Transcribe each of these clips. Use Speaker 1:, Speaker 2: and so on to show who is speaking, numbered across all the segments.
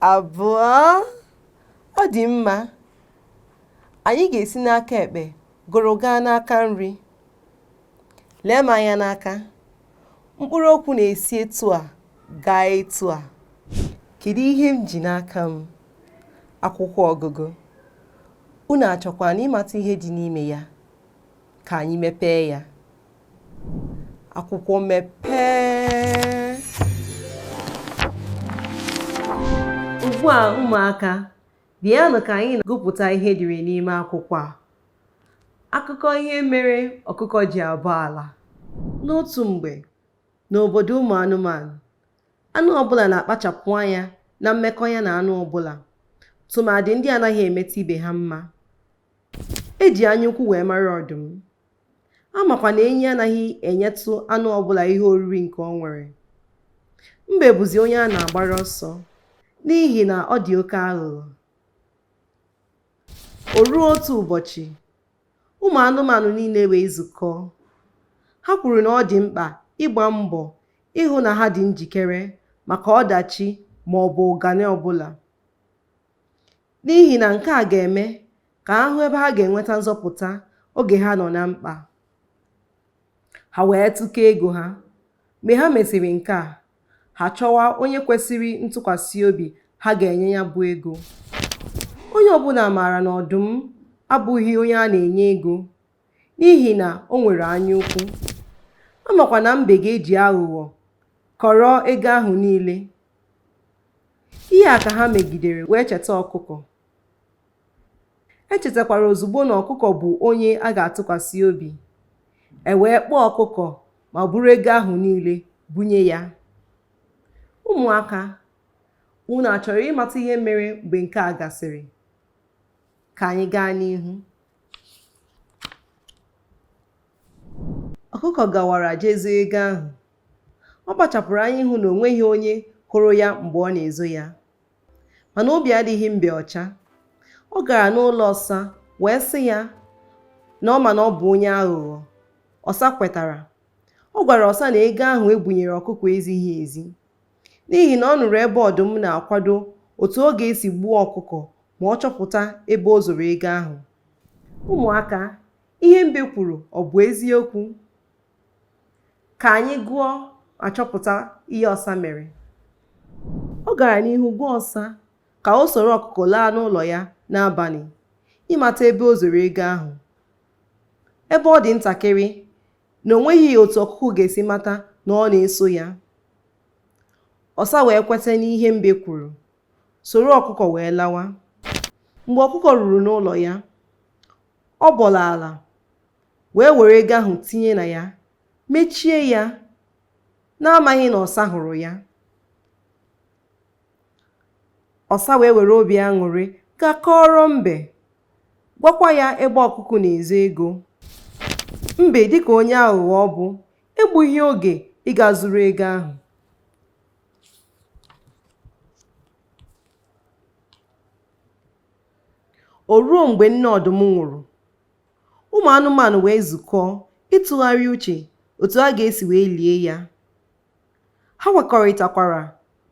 Speaker 1: abụọ ọ dị mma anyị ga-esi n'aka ekpe gụrụ gaa n'aka nri lee m anya n'aka mkpụrụ okwu na-esi etu a gaa etu a kedu ihe m ji n'aka m akwụkwọ ọgụgụ unu achọkwa na ịmata ihe dị n'ime ya ka anyị mepee ya akwụkwọ mepee ugbu a ụmụaka bịanụ ka anyị na-agụpụta ihe dịrị n'ime akwụkwọ a akụkọ ihe mere ọkụkọ ji abọ ala n'otu mgbe n'obodo ụmụ anụmanụ anụ ọbụla na-akpachapụ anya na mmekọ ya na anụ ọbụla tụmadị ndị anaghị emeta ibe ha mma e ji anyaukwu wee mara ọdụm A makwa na enyi anaghị enyetụ anụ ọbụla ihe oriri nke o nwere. Mbe bụzi onye a na-agbara ọsọ n'ihi na ọ dị oke aghụghọ. O ruo otu ụbọchị, ụmụ anụmanụ niile wee zukọọ. Ha kwuru na ọ dị mkpa ịgba mbọ ịhụ na ha dị njikere maka ọdachi ma ọ bụ ụganị ọbụla. N'ihi na nke a ga-eme ka ha hụ ebe ha ga-enweta nzọpụta oge ha nọ na mkpa. Ha wee tụkọọ ego ha. Mgbe ha mesịrị nke a, ha chọwa onye kwesịrị ntụkwasị obi ha ga-enye ya bụ ego. Onye ọbụla maara na ọdụm abụghị onye a na-enye ego n'ihi na o nwere anyaukwu. A makwa na mbe ga-eji aghụghọ kọrọ ego ahụ niile. Ihe a ka ha megidere wee cheta ọkụkọ. E chetakwara ozugbo na ọkụkọ bụ onye a ga-atụkwasị obi. E wee kpọọ ọkụkọ ma buru ego ahụ niile bunye ya. Ụmụaka, unu achọrọ ịmata ihe mere mgbe nke a gasịrị? Ka anyị gaa n'ihu. ọkụkọ gawara jee zoo ego ahụ ọ kpachapụrụ anya ịhụ na o nweghị onye hụrụ ya mgbe ọ na-ezo ya mana obi adịghị mbe ọcha ọ gara n'ụlọ ọsa wee sị ya na ọ ma na ọ bụ onye aghụghọ ọsa kwetara ọ gwara ọsa na ego ahụ e bunyere ọkụkọ ezighị ezi n'ihi na ọ nụrụ ebe ọdụm na-akwado otu ọ ga-esi gbuo ọkụkọ ma ọ chọpụta ebe o zoro ego ahụ ụmụaka ihe mbe kwuru ọ bụ eziokwu ka anyị gụọ ma chọpụta ihe ọsa mere ọ gara n'ihu gwa ọsa ka o soro ọkụkọ laa n'ụlọ ya n'abalị ịmata ebe o zoro ego ahụ ebe ọ dị ntakịrị na o nweghị otu ọkụkọ ga-esi mata na ọ na-eso ya ọsa wee kweta n'ihe mbe kwuru soro ọkụkọ wee lawa mgbe ọkụkọ ruru n'ụlọ ya Ọ bọrọ ala, wee were ego ahụ tinye na ya, mechie ya n'amaghị na ọsa hụrụ ya. Ọsa wee were obi aṅụrị gaa kọọrọ mbe, gwakwa ya ebe ọkụkọ na-ezo ego. Mbe dịka onye aghụghọ ọ bụ, egbughị oge ịga zuru ego ahụ. O ruo mgbe nne ọdụm nwụrụ, ụmụ anụmanụ wee zukọọ ịtụgharị uche otu a ga-esi wee lie ya. Ha kwekọrịtakwara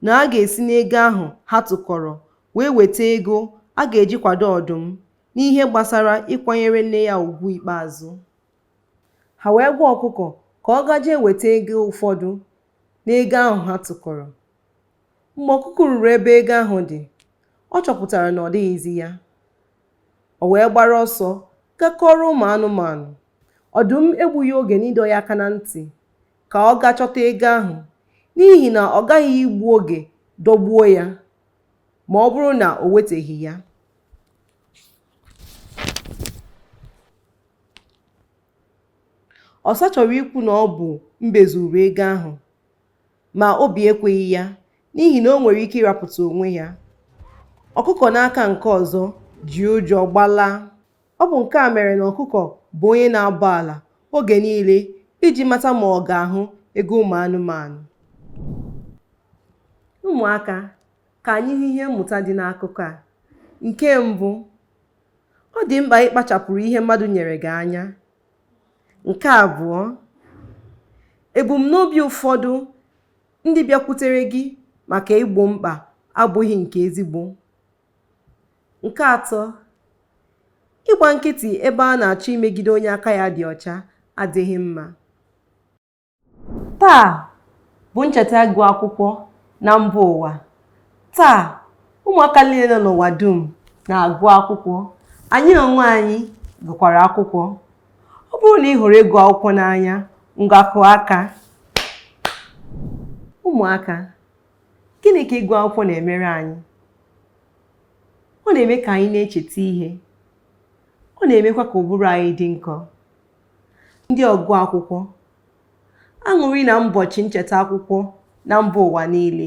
Speaker 1: na a ga-esi n'ego ahụ ha tụkọrọ wee weta ego a ga-eji kwado ọdụm n'ihe gbasara ịkwanyere nne ya ugwu ikpeazụ. Ha wee gwa ọkụkọ ka ọ gaje weta ego ụfọdụ n'ego ahụ ha tụkọrọ. Mgbe ọkụkọ ruru ebe ego ahụ dị, ọ chọpụtara na ọ dịghịzi ya. O wee gbara ọsọ gaa kọọrọ ụmụ anụmanụ. Ọdụm egbughị oge n'ịdọ ya aka na ntị ka ọ gaa chọta ego ahụ n'ihi na ọ gaghị igbu oge dọgbuo ya ma ọ bụrụ na o weteghị ya. Ọsa chọrọ ikwu na ọ bụ Mbe zuru ego ahụ ma obi ekweghị ya n'ihi na o nwere ike ịrapụta onwe ya. Ọkụkọ n'aka nke ọzọ ji ụjọ gbalaa. Ọ bụ nke a mere na ọkụkọ bụ onye na-abọ ala oge niile iji mata ma ọ ga-ahụ ego ụmụ anụmanụ. Ụmụaka, ka anyị hụ ihe mmụta dị n'akụkọ a. Nke mbụ, ọ dị mkpa ịkpachapụrụ ihe mmadụ nyere gị anya nke abụọ ebumnobi ụfọdụ ndị bịakwutere gị maka igbo mkpa abụghị nke ezigbo nke atọ ịgba nkịtị ebe a na-achọ imegide onye aka ya dị ọcha adịghị mma taa bụ ncheta ịgụ akwụkwọ na mba ụwa taa ụmụaka niile nọ n'ụwa dum na-agụ akwụkwọ anyị onwe anyị gụkwara akwụkwọ ọ bụrụ na ị hụrụ ịgụ akwụkwọ n'anya ngwa kụọ aka ụmụaka gịnị ka ịgụ akwụkwọ na-emere anyị ọ na-eme ka anyị na-echeta ihe ọ na-emekwa ka ụbụrụ anyị dị nkọ Ndị ọgụ akwụkwọ, aṅụrị na mbọchị ncheta akwụkwọ na mba ụwa niile.